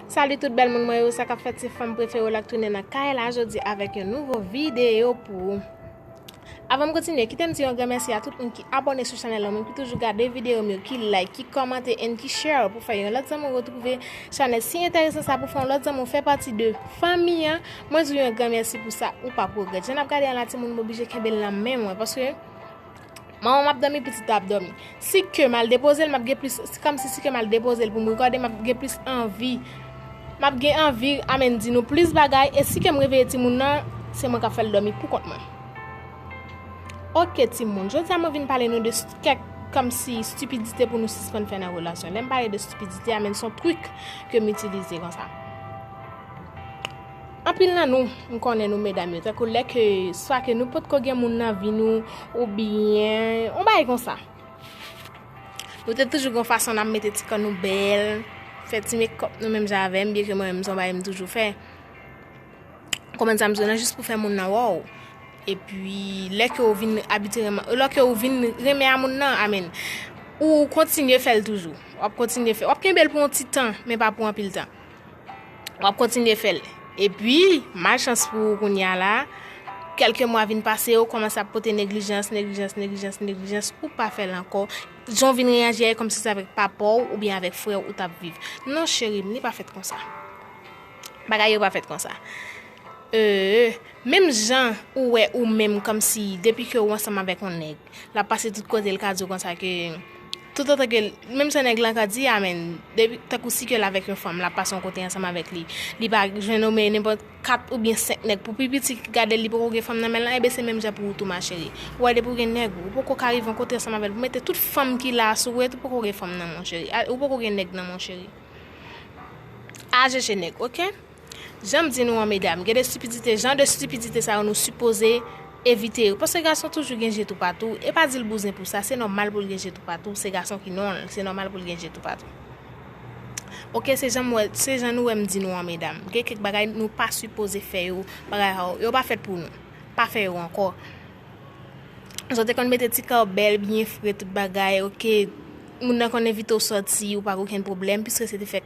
Salut tout bèl moun mwen yo, sa kap fèt se fanm prefere w la k tounen nan kay la jodi avèk yon nouvo video pou ou. Avan m kontinye, kite m di yon gran mèsi a tout moun ki abone sou chanèl la, moun ki toujou gade video m yo, ki like, ki komante and ki share pou fè yon lòt zanmi w retrouve chanèl si enteresan sa pou fè yon lòt zanmi w fè pati de fanmi an. Mwen di w yon gran mèsi pou sa, ou pap regrèt. Jan n ap gade an la timoun m oblije kenbe l nan men mwen paske Manman m ap dòmi, pitit la ap dòmi. Si ke m al depoze l, m ap gen plis, se kòmsi si ke m al depoze l pou m rekòde, m ap gen plis anvi, m ap gen anvi amenn di nou plis bagay, e si ke m reveye timoun nan, se mwen k ap fè l dòmi pou kont mwen. Ok timoun, jodi a mwen vin pale nou de kèk kòmsi stipidite pou nou sispann fè nan relasyon. Lè m pale de stipidite a men son trik ke m itilize konsa. Anpil nan nou, m konnen nou medam yo, tankou lè ke swa ke nou potko gen moun nan vi nou oubyen yon bagay konsa. Nou te toujou gon fason nan mete ti kò nou bèl, fè ti mekòp nou menm jan avèm, byen ke mwen menm son bagay m toujou fè. Konprann sa m di w la, jis pou fè moun nan wè w. E pi, lè ke ou vin abitire, lò ke ou vin renmen a moun nan, amen, ou kontinye fè l toujou. Wap kontinye fè, wap kenbe l pou yon ti tan, men pa pou anpil tan. Wap kontinye fèl. Epi, malchans pou ou kounya la, kelke mwa vin pase, ou komanse ap pote neglijans, neglijans, neglijans, neglijans, ou pa fèl ankò. Jan ou vin reyaji a e kòmsi se avèk papa ou oubyen avèk frè ou tap viv. Non cheri m, li pa fèt konsa. Bagay yo pa fèt konsa. Eee, menm jan ou wè ou menm kòmsi depi ke ou ansanm avèk yon nèg. Lap pase tout kote li ka diw konsa ke tout otan ke menm sa nèg lan ka di a men depi tankou si ke l avèk yon fanm lap pase yon kote ansanm avèk li li pa jwenn omen nenpòt 4 oubyen 5 nèg pou pi piti gadel li poko gen fanm nan menl lan enben se menm jan pou ou tou ma cheri ou wè depi ou gen nèg ou poko ka rive yon kote ansanm avèl pou mete tout fanm ki la sou ou et ou poko gen fanm nan mon cheri ou poko gen nèg nan mon cheri al chèche nèg ok. Janm di nou an medam gen de stupidite jan de stupidite sa yo nou sipoze evite yo paske gason toujou gen je toupatou e pa dil bouzen pou sa se nòmal poul gen je toupatou se gason ki nonl se nòmal poul gen je toupatou ok se janm wè se jan nou wèm di nou an medam gen kèk bagay nou pa sipoze fè yo bagay sa yo yo pa fèt pou nou pa fè yo ankò jan te konn mete ti kòbèl byen fre tout bagay ok. Moun nan konn envite w sòti, ou pa gen okenn pwoblèm, piske se te fèk,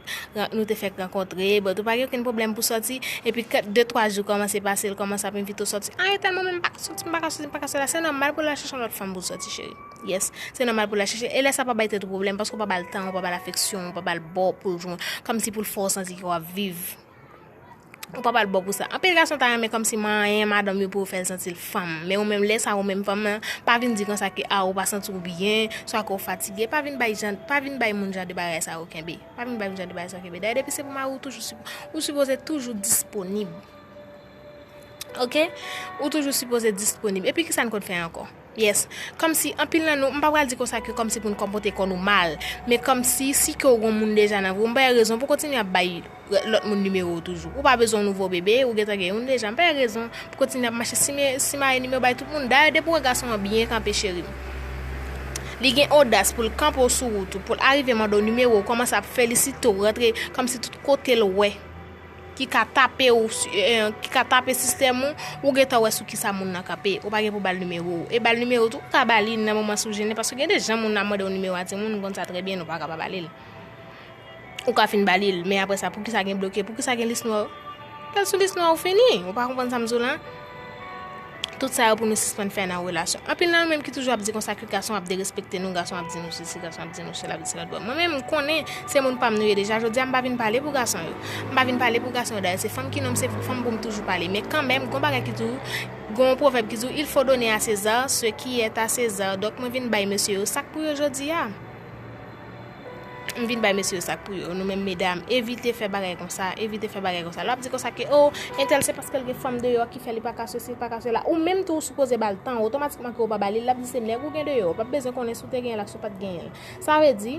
nou te fèk rankontre, but ou pa gen okenn pwoblèm pou sòti, epi kèt de twa jou kòmanse pase, l kòmanse ap envite w sòti, ah yo tèlman menm m pa ka sòti, m pa ka sèsi, m pa ka sèla, se nòmal pou l al chèche yon lòt fanm pou l sòti cheri, yes, se nòmal pou l al chèche, e lè sa pa bay tèt ou pwoblèm, paske w pa ba l tan, w pa ba l afeksyon, w pa ba l bò pou l jwenn, kòmsi pou l fè w santi ke w ap viv. Ou pap al bo pou sa. Anpil gason ta renmen kòmsi manyen madanm yo pou yo fè l santi l fanm. Men ou menm lè sa ou menm fanm nan, pa vin di konsa ke ah ou pa santi w byen, swa ke w fatige, pa vin bay jan, pa vin bay moun jan de bagay sa yo kenbe. Pa vin bay moun jan de bagay sa yo kenbe. Dayè depi se pou mari ou toujou sipo, ou sipoze toujou disponib. Ok? Ou toujou sipoze disponib. Epi kisa n konn fè ankò? Yes. Kòmsi, anpil nan nou, m pa pral di konsa ke kòmsi pou n konpote kò nou mal, men kòmsi, si ke w gon moun deja nan vi w, m pa wè rezon pou w kontinye ap bay lòt moun nimewo w toujou. Ou pa bezwen yon nouvo bebe, ou gentan gen youn deja, m pa wè rezon pou w kontinye ap mache sime, simaye nimewo bay tout moun. Dayè depi w wè gason an byen kanpe cheri m, li gen odas pou l kanpe w sou wout ou, pou l arive mande w nimewo w, kòmanse ap felisite w, rantre kòmsi tout kote l wè. ki ka tape ou ki ka tape sistèm ou, ou gentan wè sou kisa moun nan kanpe, ou pa gen pou bal nimewo ou, e bal nimewo tou ou ka ba li nan moman si w jennen paske gen de jan moun ap mande w nimewo a timoun nou konn sa trè byen nou pa ka pa ba li l ou ka fin ba li l men aprè sa poukisa gen bloke poukisa gen lis nwa yo lè l sou lis nwa ou fini ou pa konprann sa m di w lan. Tout sa yo pou nou sispann fè nan relasyon. Anpil nan nou menm ki toujou ap di konsa ke gason ap derespekte nou, gason ap di nou sesi, gason ap di nou sela, vit sela dwèm. Mwen menm, m konnen se moun pa m nou ye deja, jodi a m pa vin pale pou gason yo. M pa vin pale pou gason yo dayè se fanm ki non m se pou fanm pou m toujou pale. Men kanmenm, gon bagay ki di w, gon yon pwovèb ki di w, il faut donner à César ce qui est à César. Donk mwen vin bay mesye yo sa k pou yo jodi a. M vin bay mesye yo sak pou yo. Nou menm medam, evite fè bagay konsa, evite fè bagay konsa. Lè w ap di konsa ke o, entèl se paske l gen fanm deyò ki fè li pa ka sesi, li pa ka sela. Ou menm tou ou sipoze ba l tan w, otomatikman ke ou pa ba li l, l ap di se nèg ou gen deyò, ou pa p bezwen konnen si w te genyen l ak si w pa t genyen l. Sa vle di,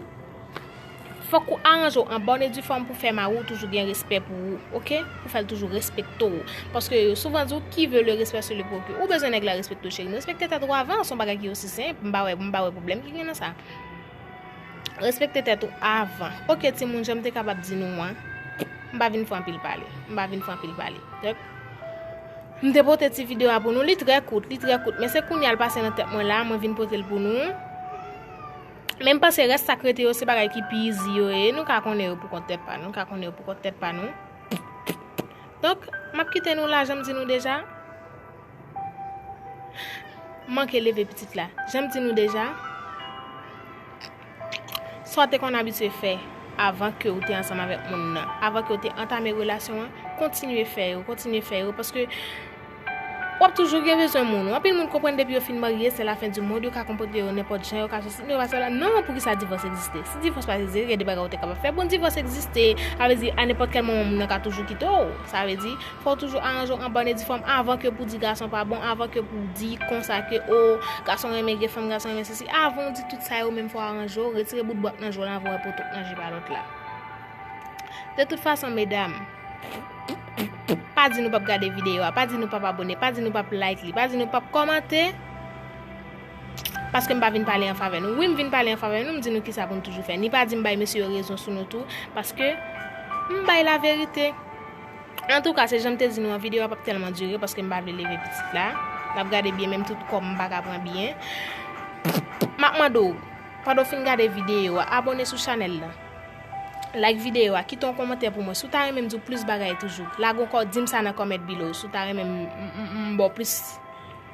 fòk ou aranje w an bòn e di fòm pou fè mari w toujou gen respè pou ou, ok? Pou fè l toujou respekte w. Paske yo souvan di w, qui veut le respect se le procure. Ou bezwen nèg la respekte w cheri m. Respekte tèt ou avan, s on bagay ki osi senp, m pa wè, m pa wè pwoblèm ki gen nan sa. Respekte tèt ou avan. Ok timoun janm te kapab di nou an. M pa vin fè anpil pale. M pa vin fè anpil pale. Dèk. M te pote ti video a pou nou. Li trè kout. Li trè kout. Men se kounye al pase nan tèt mwen la. Mwen vin pote l pou nou. Men m panse rès sa k rete yo se bagay ki pi izi yo ye. Nou ka konnen yo pou kont tèt pa nou. Nou ka konnen yo pou kont tèt pa nou. Donk. M ap kite nou la janm di nou deja. M manke leve pitit la. Jan m di nou deja, sa w te konn abitye fè avan ke ou te ansanm avèk moun nan, avan ke ou te antame relasyon an, kontinye fè yo, kontinye fè yo, paske w ap toujou gen bezwen moun. Anpil moun konprann depi yo fin marye, se la fen di mond, yo ka konpote yo nenpòt jan, yo ka sosi, men yo pa sèl. Non, poukisa divòs egziste? Si divòs pa t egziste, gen de bagay ou te kapab fè. Bon, divòs egziste, sa vle di a nenpòt kèl moman moun nan ka toujou kite w. Sa vle di. Fò w toujou aranje w an bòne di fanm avan ke pou di gason pa bon, avan ke pou di konsa ke oo gason renmen vye fanm, gason renmen sesi. Avan w di tout sa yo menm fò w aranje w, retire bout bwat nan je w lan avan w wè poto k nan je pa lòt la. De tout fason medam, pa di nou pap gade videyo a, pa di nou pap abòne, pa di nou pap like li, pa di nou pap kòmante, paske m pa vin pale an favè nou. Wi m vin pale an favè nou, m di nou kisa pou nou toujou fè. Ni pa di m bay mesye yo rezon sou nou tou, paske m bay laverite. Antouka se janm te di nou an video a pap tèlman dire paske m pa vle leve pitit la nap gade byen menm tout kòm m paka pran byen map mande w pandan w fin gade video a abone sou chanèl lan like video a kite yon kòmantè pou mwen si w ta renmen m di w plis bagay toujou lage yon kò di m sa nan comment below si w ta renmen m ba w plis.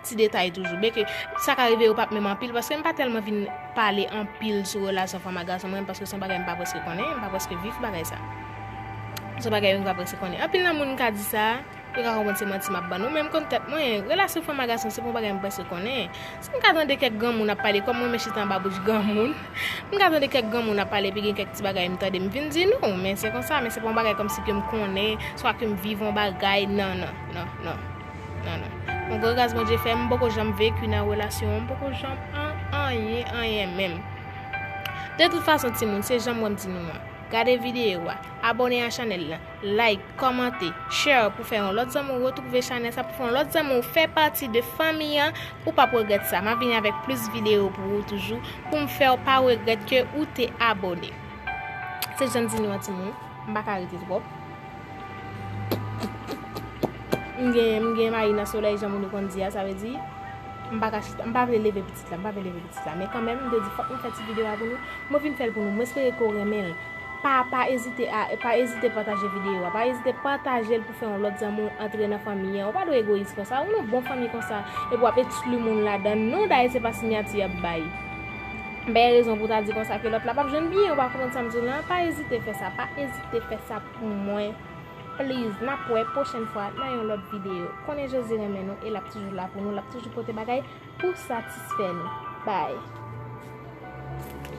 Ti detay toujou. Byen ke sa ka rive yo pap menm anpil paske m pa tèlman vin pale anpil sou relasyon fanm ak gason mwen paske se yon bagay m pa prèske konnen, m pa prèske viv bagay sa. Se yon bagay yo m pa prèske konnen. Anpil nan moun m ka di sa, yo ka konprann se manti m ap ban nou men m konn tèt mwen, relasyon fanm ak gason se pa yon bagay m prèske konnen. Si m ka tande kèk granmoun ap pale kòm mwen menm chita anba bouch granmoun, m ka tande kèk granmoun ap pale epi gen kèk ti bagay m tande m vin di nou men se konsa men se pa yon bagay kòmsi ke m konnen swa ke m viv yon bagay nan nan nan nan. Non non. Mwen gwo gras Bondye fè m poko janm veku nan relasyon m poko janm an anyen anyen menm. De tout fason timoun se janm wèm di nou an. Gade video a, abone a chanèl lan, like, kòmante, share pou fè yon lòt zanmi w retrouve chanèl sa pou fè yon lòt zanmi w fè pati de fanmi an ou pap regrèt sa. Map vini avèk plis video pou ou toujou pou m fè w pa regrèt ke ou te abone. Se janm di nou an timoun m paka rete twòp. M gen mayi nan solèy jan moun yo konn di a, sa vle di m pa ka chita, m pa vle leve pitit la, m pa vle leve pitit la men kanmenm m te di fòk mwen fè ti videyo a pou nou, mwen vin fè l pou nou, mwen espere ke w renmen l pa pa ezite a, pa ezite pataje videyo a, pa ezite pataje l pou fè yon lòt zanmi w antre nan fanmi an, ou pa dwe egoyis konsa, ou nan bon fanmi konsa epi w ap ekskli moun ladan l non, dayè se pa sinyati y ap bay m bay rezon pou w ta di konsa ke lòt la p ap jwenn byen, ou pa konprann sa m di w la, pa ezite fè sa, pa ezite fè sa. pou mwen please nap wè pwochèn fwa nan yon lòt video konnen Jezi renmen nou e lap toujou la pou nou lap toujou pote bagay pou satisfè nou bye.